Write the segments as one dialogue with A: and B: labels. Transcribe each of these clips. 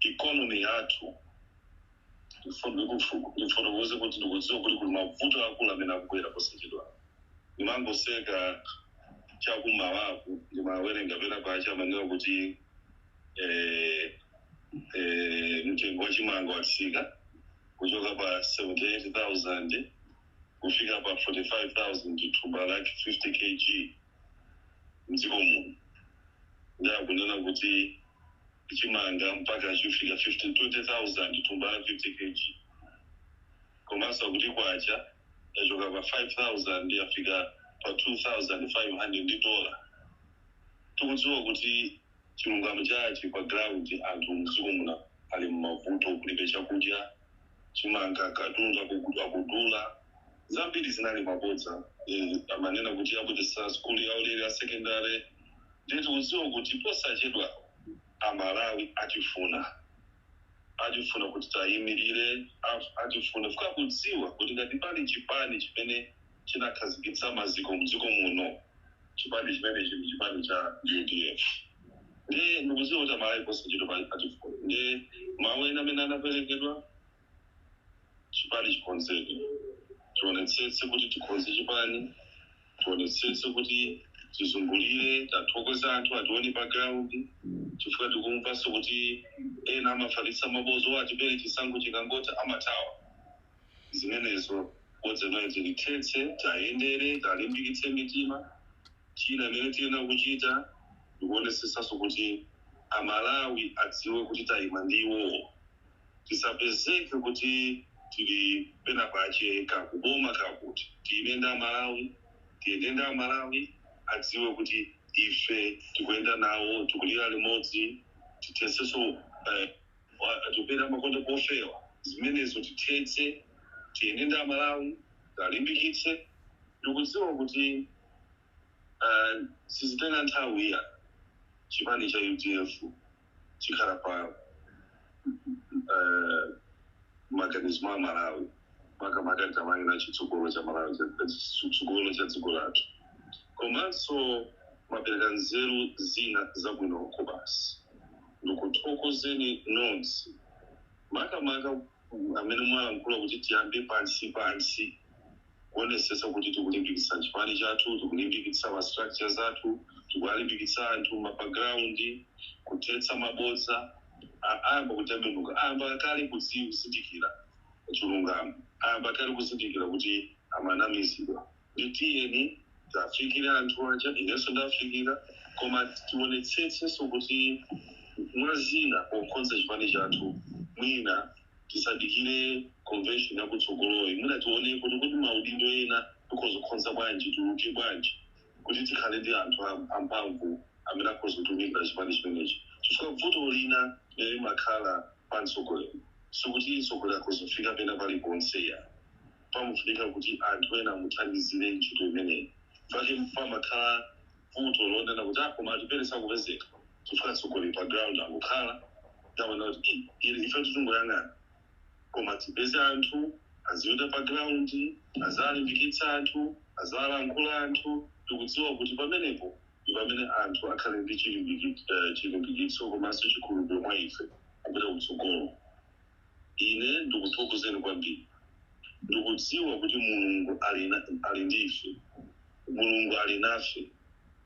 A: ikonomi yathu ndifotokoze kuti ndikudziwa kuti kuli mavuto akulu amene akubwera posachedwa ndimangoseka chakummawaku ndimawerenga pena pache amanena kuti eh, eh, mtengo wa chimanga watsika kuchoka pa 78000 kufika pa 45000 thumba lake 50 kg mdziko muno ndi akunena kuti chimanga mpaka chifika 15 20000 thumba la 50 kg komanso akuti kwacha yachoka pa 5000 yafika pa 2500 ndi dola tikudziwa kuti chilungamo chache pa ground anthu mdziko muno ali mmavuto kulibe chakudya chimanga katundu akugu- akudula zambiri zinali mabodza. Eeh amanena kuti abweretsa sukulu ya ulere ya secondary ndiye tikudziwa kuti posachedwa amalawi atifuna. Atifuna kuti tiayimilire, atifuna chifukwa akudziwa kuti ngati pali chipani chimene chinakhazikitsa maziko mdziko muno chipani chimenechi ndi chipani cha udf ndiye ndikudziwa kuti amalawi posachedwapa atifuna ndiye mawu ena amene anaperekedwa. chipani chikonzedwe tionetsetse kuti tikonze chipani tionetsetse kuti tizungulire tathokoze anthu atione pa ground chifukwa tikumvanso kuti ena amafalitsa mabodza oti atupele chisankho chikangotha amathawa zimenezo bodza limene tilithetse tayendere talimbikitse mitima china chimene tiyenera kuchita ndikuonetsetsanso kuti amalawi adziwe kuti tayima ndi iwowo tisapezeke kuti tili pena pache kakuboma kakuti tiime ndi amalawi tiyende ndi amalawi adziwe kuti ife tikuyenda nawo tikulira limodzi tithetsenso eeh atupele amakonda pofewa zimenezo tithetse tiyende ndi amalawi talimbikitse ndikudziwa kuti eeh sizitenga nthawi iya chipani cha udf chikhala pa eh, maganizo mwa amalawi makamaka tikamanena chitsogolo cha malawi cha- chitsogolo cha dziko lathu komanso mwapereka nzeru zina zabwino kwabasi ndikuthokozeni nonse makamaka amene mwalankhula kuti tiyambe pansi pansi kuonesetsa kuti tikulimbikitsa chipani chathu, tikulimbikitsa ma structures athu, tikuwalimbikitsa anthu a pa ground, kuthetsa mabodza, a ayamba kutembenuka, ayamba kale kudziwa kuzindikira chilungamo, ayamba kale kuzindikira kuti amanamizidwa, nde tiyeni tiwafikire anthu aja, inenso ndiwafikira, koma tionetsetsenso kuti mwa zina pokonza chipani chathu mwina. tisadikire convention yakutsogoloyi mwina tione kuti kuti maudindo ena tikonzekonze bwanji tiluke bwanji kuti tikhale ndi anthu am- amphamvu amene akhoza kutumikira chipani chimenechi chifukwa vuto lina limene limakhala pa mtsogoleri sikuti mtsogoleri akhozofika pena paliponse ayi pamafunika kuti anthu ena amuthandizire ntchito imeneyi pake pamakhala vuto lonena kuti a koma Atupele sakupezeka chifukwa atsogoleri pa ground angokhala ndamana kuti "Ih, ili ife titungoyang'ana koma tipeze anthu azipita pa ground aziwalimbikitsa anthu aziwalankhula anthu tikudziwa kuti pamenepo ndi pamene anthu akhale ndi chilimbiki- eh, chilimbikitso komanso chikhulupiriro mwa ife kupita kutsogolo Ine ndikuthokozeni kwambiri. Ndikudziwa kuti Mulungu ali, ali ndi ife. Mulungu ali nafe.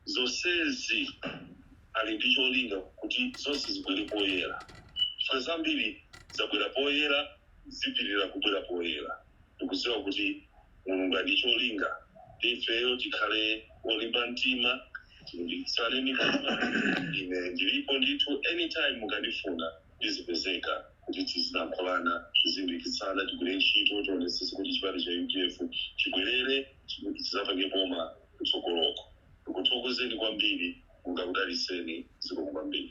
A: Zonsezi ali ndi cholinga kuti zonse zibwere poyera, chifukwa zambiri zabwera poyera, zipitirira kubwera poyera. Ndikudziwa kuti Mulungu ali ndi cholinga ndi ifeyo. Tikhale olimba mtima, tilimbikitsane mitima. Ine ndilipo ndithu, anytime mukandifuna. ndizipezeka kuti tizilankhulana tizilimbikitsana tigwire ntchito tionetsetse kuti chipani cha udf chibwerere chi- chizapange boma kutsogoloko ndikuthokozeni kwambiri Mulungu akudalitseni zikomo kwambiri